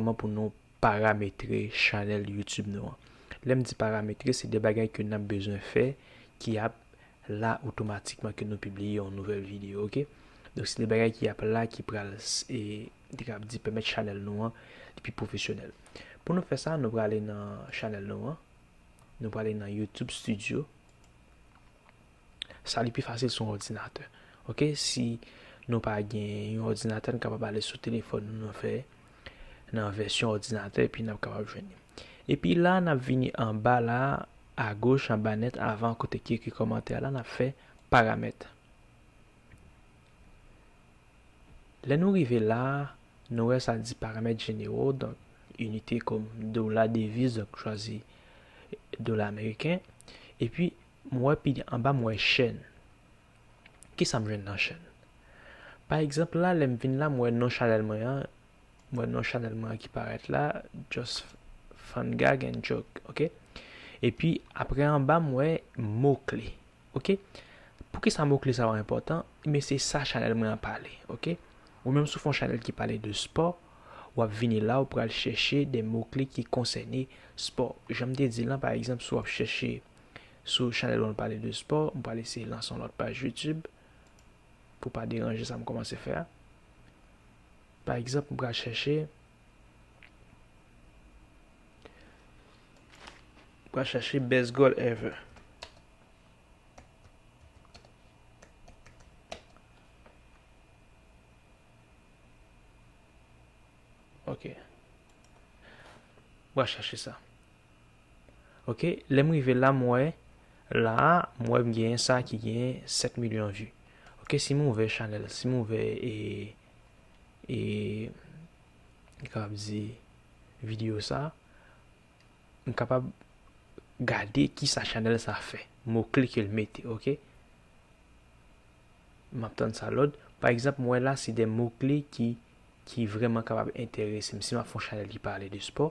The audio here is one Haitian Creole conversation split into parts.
Kòman pou nou parametre chanèl YouTube nou an? Lè m di parametre, se de bagay ke n ap bezwen fè ki ap la otomatikman ke nou pibliye yon nouvèl videyo ok. Donk se de bagay ki ap la ki pral e m te kapab di pèmèt chanèl nou an li pi pwofesyonèl. Pou nou fè sa, nou prale nan chanèl nou an, nou prale nan YouTube studio. sa li pi fasil sou yon òdinatè ok si nou pa gen yon òdinatè nou kapab ale sou telefòn nou nan fè nan vèsyon òdinatè epi nap kapab jwenn li epi la nap vini anba la agoch anba nèt avan kote ki ekri kòmantè la nap fè paramèt lè nou rive la nou wè sa di paramèt jenero donk inite kòm dola deviz donk chwazi dola ameriken epi M wè pi anba m wè chèn. Kisa m jwenn nan chèn? Pa egzanp la lè m vin la m wè non chanèl mwen an, m wè non chanèl mwen an ki parèt la just fun gag and joke ok epi aprè anba m wè mo kle ok poukisa mo kle sa yo enpòtan ebyen se sa chanèl mwen an pale ok ou menm si w fè yon chanèl ki pale de spò w ap vini la ou pral chèche de mo kle ki konsène spò jan m te di lan pa egzanp si w ap chèche Sou chanèl mwen pale de spò, m pral eseye lanse yon lòt paj YouTube pou pa deranje sa m kòmanse fè a. Pa egzanp, m pral chèche m pral chèche best goal ever. Ok. M pral chèche sa. Ok lèm rive la m wè la m wè m genyen sa ki genyen 7 milyon vue ok si m ouvè chanèl si m ouvè e e m kapab di video sa m kapab gade kisa chanèl sa fè mo kle ke l mete ok m ap tann sa lòd pa egzanp m wè la se de mo kle ki ki vreman kapab enterese m si m ap fè yon chanèl ki pale de spò.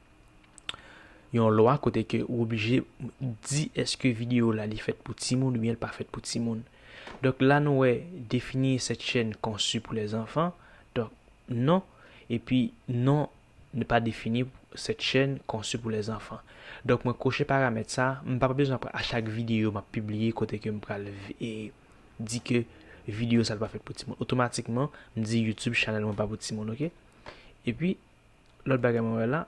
yon lwa kote ke ou oblije di eske video la li fèt pou timoun oubyen li pa fèt pou timoun. Donk la nou wè defini cette chaîne conçue pour les enfants, donk non, epi non ne pas définir cette chaîne conçue pour les enfants. Donk mwen koche paramèt sa, m pa bezwen apre a chak video map pibliye kote ke m pral di ke video sa li pa fèt pou timoun. Otomatikman m di YouTube channel mwen pa pou timoun ok. Epi Lòt bagay mwen wè la,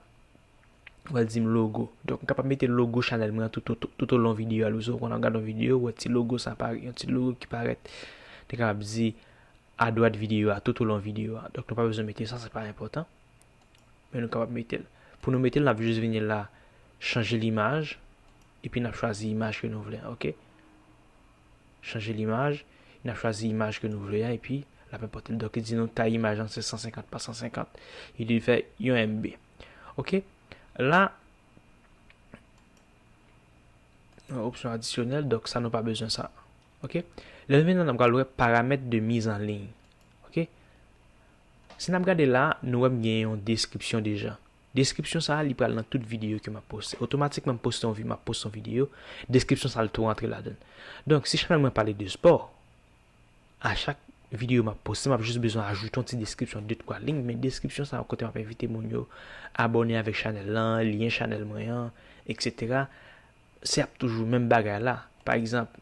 ou wè l di m logo. Donk m kapab mete logo chanèl mwen an tout o lon videyo a. Lou konn ap gade yon videyo, ou wè ti logo sa parèt, yon ti logo ki parèt. Te kapab di adwat videyo a, tout o lon videyo a. Donk nou pa bezwen mete sa, se pa enpòtan. Men nou kapab mete l. Pou nou mete l, n ap jis vini la, chanje l imaj, epi n ap chwazi imaj ke nou vle an, ok. chanje limaj, e nap chwazi imaj ke nou vle a epi lap enpòte l. Donk li di nou tay imaj lan se 150 pa 150, li di fè yon MB. Ok, la yon opsyon adisyonèl, donk sa nou pa bezwen sa. Ok, lè nou vin la nap pral wè paramèt de miz an liy. Ok, si nap gade la nou wè m gen yon deskripsyon deja. Deskripsyon sa li pral nan tout videyo ke map poste. Otomatikman m poste yon vi map poste yon videyo, deskripsyon sa l tou rantre ladan l. Donk si chanèl mwen pale de spò, a chak videyo map poste map jis bezwen ajoute yon ti deskripsyon de twa lign men deskripsyon sa kote map envite moun yo abòne avèk chanèl lan, lyen chanèl mwen an, eksetera se ap toujou menm bagay la. Pa egzanp.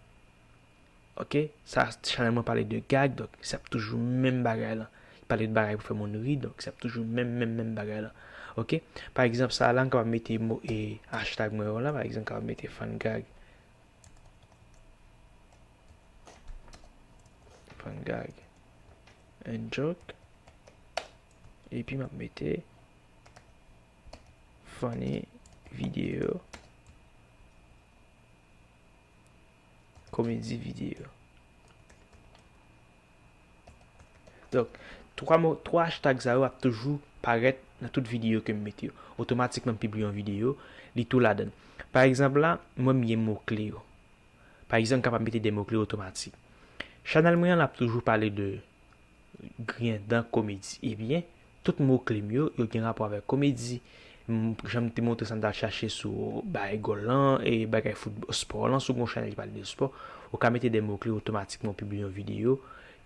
Ok sa chanel mwen pale de gag donk se ap toujou menm bagay lan pale de bagay pou fè moun ri donk se ap toujou menm menm menm bagay lan ok pa egzanp sa la m kapab mete mo e hashtag mwen yo la pa egzanp m kapab mete fan gag fan gag and joke epi m ap mete funny video Komedi videyo. Donk, 3 mo, 3 hashtag sa yo ap toujou parèt nan tout videyo ke m mete yo. Otomatikman m pibliye yon videyo, li tou ladan. Pa egzanp la, mwen m gen mo kle yo. Pa egzanp m kapab mete 2 mo kle otomatik. Chanèl mwen an ap toujou pale de. griyen dan komedi. Ebyen, tout mo kle m yo, yo gen rapò avèk komedi. M, jan m te montre sa m t al chache sou bay gòl lan, e bagay foutb, spò lan, si w gen yon chanèl ki pale de spò, ou ka mete de mo kle otomatikman w pibliye yon videyo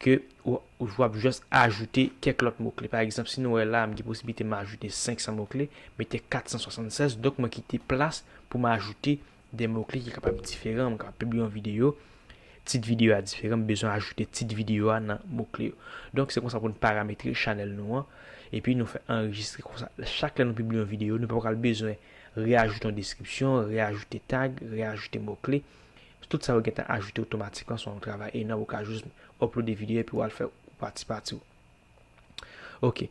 ke w, w ap jis ajoute kèk lòt mo kle. Pa egzanp, si nou wè la, m gen posiblite m ajoute 500 mo kle, mete 476, donk mwen kite plas pou m ajoute 2 mo kle ki kapab diferan, mwen kapab pibliye yon videyo, tit videyo a diferan, m bezwen ajoute tit videyo a nan mo kle yo. Donk se konsa pou nou parametre chanèl nou an, epi nou fè anrejistre konsa chak lè nou pibliye yon videyo nou pa pral bezwen reajoute yon deskripsyon, reajoute tag, reajoute mo kle, tout sa yo gentan ajoute otomatikman sou yon travay enòm ou ka jis oplode videyo epi wal fè pati pati w. Ok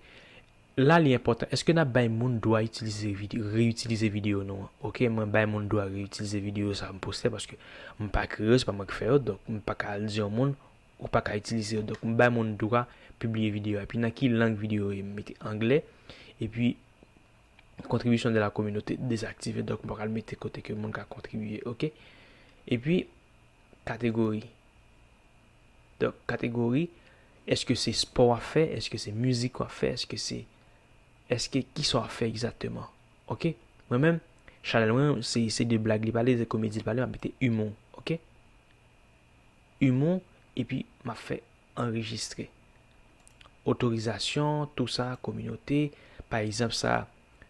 La li enpòtan Eske nap bay moun dwa itilize Reutilize video nou an Ok mwen bay moun dwa reutilize video sa m poste paske m pa kreye yo se pa mwen ki fè yo donk m paka al di yon moun ou paka itilize yo donk m bay moun dwa pibliye video a epi nan ki lang video yo ye m mete anglè epi Contribution de la communauté dezaktive donk m paka al mete kote ke moun ka kontribye ok epi. kategori. Donk kategori eske se spò wap fè, eske se mizik wap fè, eske se eske kisa wap fè egzakteman. Ok mwen menm chanèl mwen se se de blag li pale, se komedi li pale map mete imou ok. Imou epi map fè anrejistre. Otorizasyon tou sa kominote pa egzanp sa.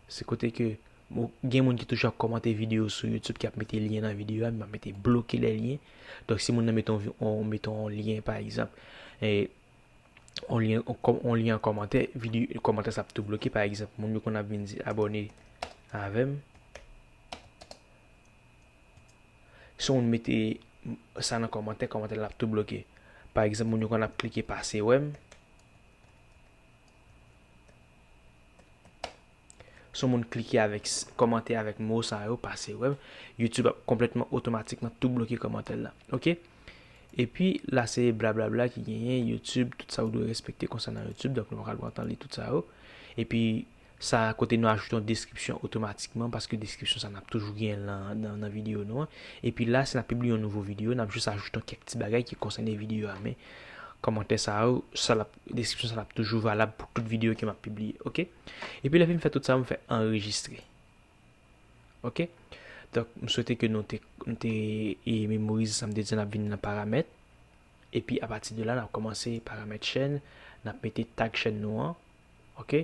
Se kote ke bon, gen moun ki toujou ap kòmante videyo sou YouTube ki ap mete lyen nan videyo a, men mwen mete bloke lè lyen. Donk si moun nan mete on, mete on lyen pa egzanp, e, on lyen, on lyen an kòmantè, videyo, kòmantè sa ap tou bloke pa egzanp. Moun yo konn ap vin di abone avèm. Si moun mete sa nan kòmantè, kòmantè la ap tou bloke. Pa egzanp, moun yo konn ap klike pase wèm. Si yon moun klike avèk kòmantè avèk mo sa yo pase wèm YouTube ap konplètman otomatikman tou bloke kòmantèl la ok epi la se blablabla ki genyen YouTube tout sa ou dwe respekte konsènan YouTube donk nou pa pral pran tan li tout sa yo epi sa kote nou ajoute yon deskripsyon otomatikman paske deskripsyon sa nap toujou genyen nan nan videyo nou an epi la si nap pibliye yon nouvo videyo nap jis ajoute kèk ti bagay ki konsène videyo a men kòmantè sa yo sa lap Deskripsyon sa ap toujou valab pou tout videyo ke m ap pibliye. Ok. Epi lè fim fè tout sa, m fè anrejistre. Ok. Donk, m swete ke nou te, nou te e memorize sa m te di n ap vin nan paramèt. Epi apati de la, n ap kòmanse paramèt chèn. N ap mete tag chèn nou an. Ok.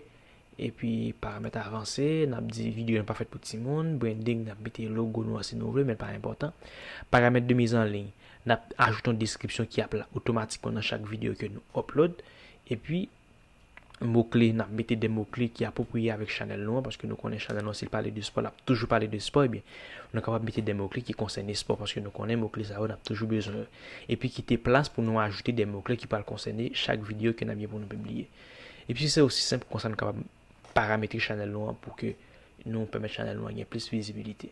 Epi paramèt avanse, n ap di videyo nan pa fèt pou timoun. Branding, n ap mete logo nou an si nou vle, men l pa enpòtan. Paramèt de miz an liy, n ap ajoute yon deskripsyon ki ap la otomatikman nan chak videyo ke nou upload. Epi mo kle, n ap mete de mo kle ki apwopriye avèk chanèl nou an, paske nou konnen chanèl nou an si l pale de spò l ap toujou pale de spò, ebyen nou kapab mete de mo kle ki konsène spò paske nou konnen mo kle sa yo n ap toujou bezwen yo. Epi kite plas pou nou ajoute de mo kle ki pral konsène chak videyo ke n ap gen pou nou pibliye. Epi se osi senp konsa nou kapab parametre chanèl nou an pou ke nou pèmèt chanèl nou an gen plis vizibilite.